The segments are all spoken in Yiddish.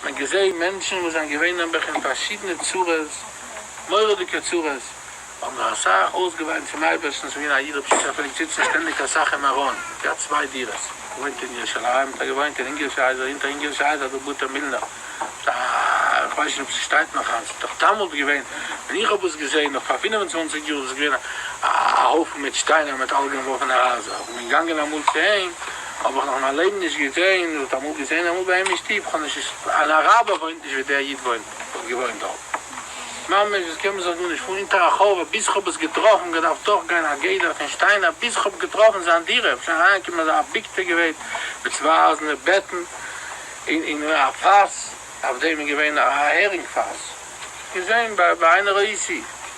מען געזעהן מענטשן וואס זענען געווען נעבעך אין פארשידענע צרות, מורא'דיגע צרות, האבן זיך אסאך אויסגעוויינט צום אייבערשטן, ס'איז געווען א איד ר' פשיטא פון ליפציצין שטענדיג אסאך אין מירון, געהאט צוויי דירות, געוואוינט אין ירושלים, האט ער געוואוינט אין אונגערישע הייזער, אונטער אונגערישע הייזער דא בוטער מילנער, א, איך ווייס נישט אויב ס'שטייט נאך היינט, דאך דאמאלט געווען, ווען איך האב עס געזעהן נאך פאר פינעף און צוואנציג יאר, איז עס געווען א הויפן מיט שטיינער מיט אלגענווארפענע הייזער, כ'בין געגאנגען אמאל צו אים, האב איך נאך אין מיין לעבן נישט געזען, אדער אמאל געזען אמאל ביי אים אין שטוב, כ'האב נישט געז. אן אראבער וואוינט נישט ווי דער איד וואוינט, וואלט געוואוינט דארט. ממש דאס קען מען זיך גארנישט פאר. אונטער א חורבה ביז כ'האב עס געטראפן, געדארפט דורכגיין א גדר פון שטיינער ביז כ'האב געטראפן זיין דירה, שוין אריינגעקומען אזא אביגטע געווען, מיט צוויי אייזענע בעטן, און און א פאס, אויף דעם איז געווען א הערינג פאס, געזען ביי ביי איינער א איסי.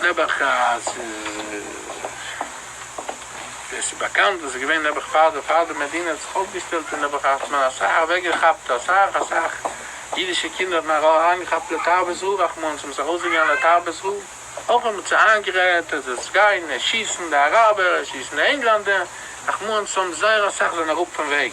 נעבעך אז עס איז באקאנט וואס איז געווען נעבעך פאר די פאר די מדינה האט זיך אויפגעשטעלט און נעבעך האט מען אסאך אוועקגעכאפט אסאך אסאך אידישע קינדער האט מען אריינגעכאפט לתרבות רעה רחמנא זיי האבן זיך ארויסגעגעבן לתרבות רעה אויך האט מען צו איינגערעדט אז עס גייען עס שיסן די אראבער עס שיסן די ענגלאנדער רחמנא האבן זייער אסאך זענען אראפ פון וועג.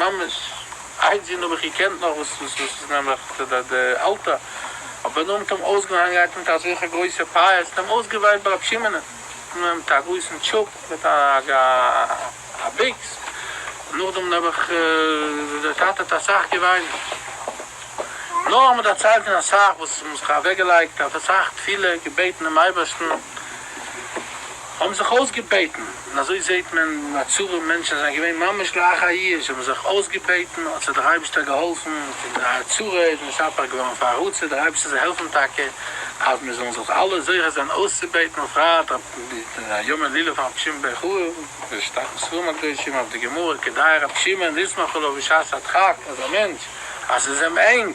ממש איידזין האב איך געקענט נאך וואס וואס איז נעבעך די די די אלטע אבער נאר מיט אים אויסגעהאנגען געהאט מיט אזעלכע גרויסע פייערס מיט אים אויסגעוויילט ביי רב שמעונ'ען מיט א גרויסן טשופ מיט א א ביקס און נאכדעם נעבעך די טאטע האט אסאך געוויינט נאר מ'דערציילט אים אסאך וואס מ'האט זיך אוועקגעלייגט אויף אסאך תפילה געבעטן דעם אייבערשטן. האבן זיך אויסגעבעטן, און אזוי זעהט מען א צרה, מענטשן זענען געווען ממש לאחר איוב, זיי האבן זיך אויסגעבעטן, האט זיי דער אייבערשטער געהאלפן, פון די צרה איז משתפך געווארן פאר הרצה, דער אייבערשטער זאל העלפן טאקע, אז מיר זאלן זיך אלע זוכה זיין אויסצובעטן בפרט אויף יום הילולא פון רבי שמעון בן חורב, ווי עס שטייט אין ספרים הקדושים אויף די גמרא, כדאי רבי שמעון ישמח עליו בשעת הדחק, אז א מענטש אז עס איז אים ענג,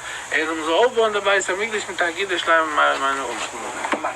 ער זאל מיר זאל אויפבויען די בית המקדש מיט א קידוש לייב און מראה מיינע אומן.